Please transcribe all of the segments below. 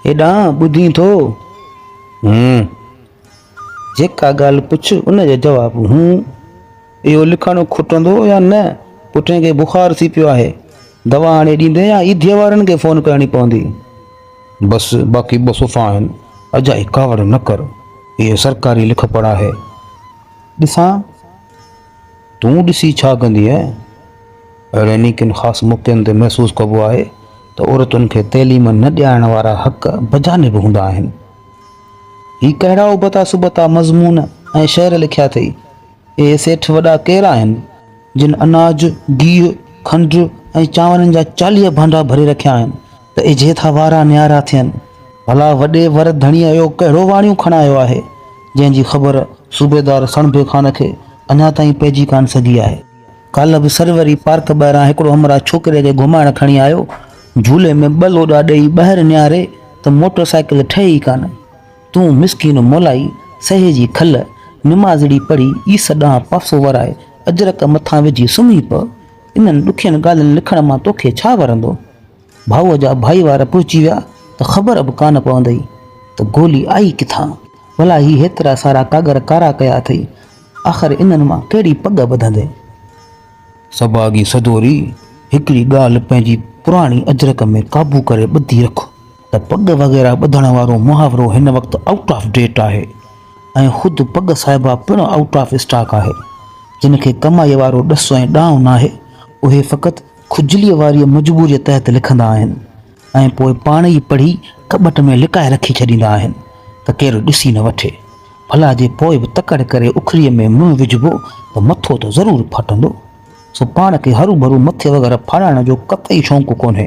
هيڏانهن ٻڌين ٿو؟ هون. جيڪا ڳالهه پڇ ان جو جواب هون. اهو لکڻ کوٽندو يا نه؟ پٽڻ کي بخار ٿي پيو آهي. دوا آڻي ڏيندين يا ايڌيء وارن کي فون ڪرڻي پوندي؟ بس باقي ٻه صفحا آهن. اجائي ڪاوڙ نه ڪر. اهو سرڪاري لکپڙهه آهي. ڏسان. تون ڏسي ڇا ڪندينء؟ اهڙين ئي ڪن خاص موقعن تي محسوس ڪبو آهي ته عورتن کي تعليم نه ڏيارڻ وارا حق بجانب هوندا آهن. هي ڪهڙا ابتا سبتا مضمون ۽ شعر لکيا اٿئي؟ اهي سيٺ وڏا ڪير آهن، جن اناج، گيهه، کنڊ ۽ چانورن جا چاليهه ڀانڊا ڀري رکيا آهن؟ ته اجهي ٿا وارا نيارا ٿين. ڀلا وڏي ور ڌڻيء اهو ڪهڙو واڻيون کڻايو آهي، جنهن جي خبر صوبيدار سڻڀي خان کي اڃا تائين پئجي ڪانه سگهي آهي. ڪالهه به سروري پارڪ ٻاهران هڪڙو همراهه ڇوڪريء کي گهمائڻ کڻي آيو، جهولي ۾ ٻه لوڏا ڏيئي ٻاهر نياري ته موٽر سائيڪل ٺهي ئي ڪانه. تون مسڪين مولائي سهي جي کل، نمازڙي پڙهي عيسيٰ ڏانهن پاسو ورائي اجرڪ مٿان وجهي سمهي پء. انهن ڏکين ڳالهين لکڻ مان توکي ڇا ورندو؟ ڀائوء جا ڀائيوار پهچي ويا ته خبر به ڪانه پوندئي ته گولي آئي ڪٿان؟ ڀلا هي هيترا سارا ڪاڳر ڪارا ڪيا اٿئي، آخر انهن مان ڪهڙي پڳ ٻڌندين؟ سڀاڳي سدوري، هڪڙي ڳالهه پنهنجي پراڻي اجرڪ ۾ قابو ڪري ٻڌي رک. ته پڳ وغيره ٻڌڻ وارو محاورو هن وقت آئوٽ آف ڊيٽ آهي ۽ خود پڳ صاحبه پڻ آئوٽ آف اسٽاڪ آهي. جن کي ڪمائيء وارو ڏس ۽ ڏانء ناهي، اهي فقط کجليء واريء مجبوريء تحت لکندا آهن ۽ پوء پاڻ ئي پڙهي ڪٻٽ ۾ لڪائي رکي ڇڏيندا آهن ته ڪير ڏسي نه وٺي. ڀلا جي پوء به تڪڙ ڪري اکريء ۾ منهن وجهبو ته مٿو ته ضرور ڦاٽندو. سو پاڻ کي هروڀرو مٿي وغيره ڦاڙائڻ جو قطعي شونق ڪونهي.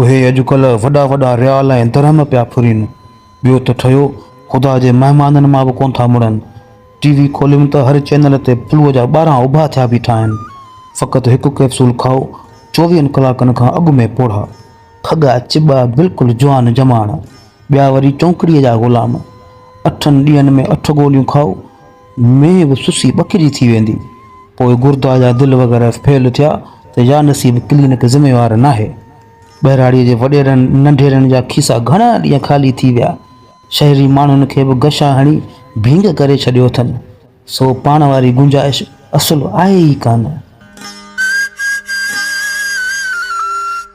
اهي اڄڪلهه وڏا وڏا ريال ۽ درهم پيا ڦرين، ٻيو ته ٺهيو خدا جي مهمانن مان به ڪونه ٿا مڙن. ٽي وي کوليم ته هر چينل تي فلوء جا ٻارهن اڀا ٿيا بيٺا آهن. فقط هڪ ڪئپسول کائو، چوويهن ڪلاڪن کان اڳ ۾ پوڙها، کڳا چٻا، بلڪل جوان جماڻ. ٻيا وري چونڪڙيء جا غلام، اٺن ڏينهن ۾ اٺ گوليون کائو، مينهن به سسي ٻڪري ٿي ويندي. پوء گردا جا دل وغيره فيل ٿيا ته يا نصيب ڪلينڪ ذميوار ناهي. ٻهراڙيء جي وڏيرن ننڍيرن جا کيسا گهڻا ڏينهن خالي ٿي ويا. شهري ماڻهن کي به غشا هڻي ڀينگ ڪري ڇڏيو اٿن. سو پاڻ واري گنجائش اصل آهي ئي ڪانه.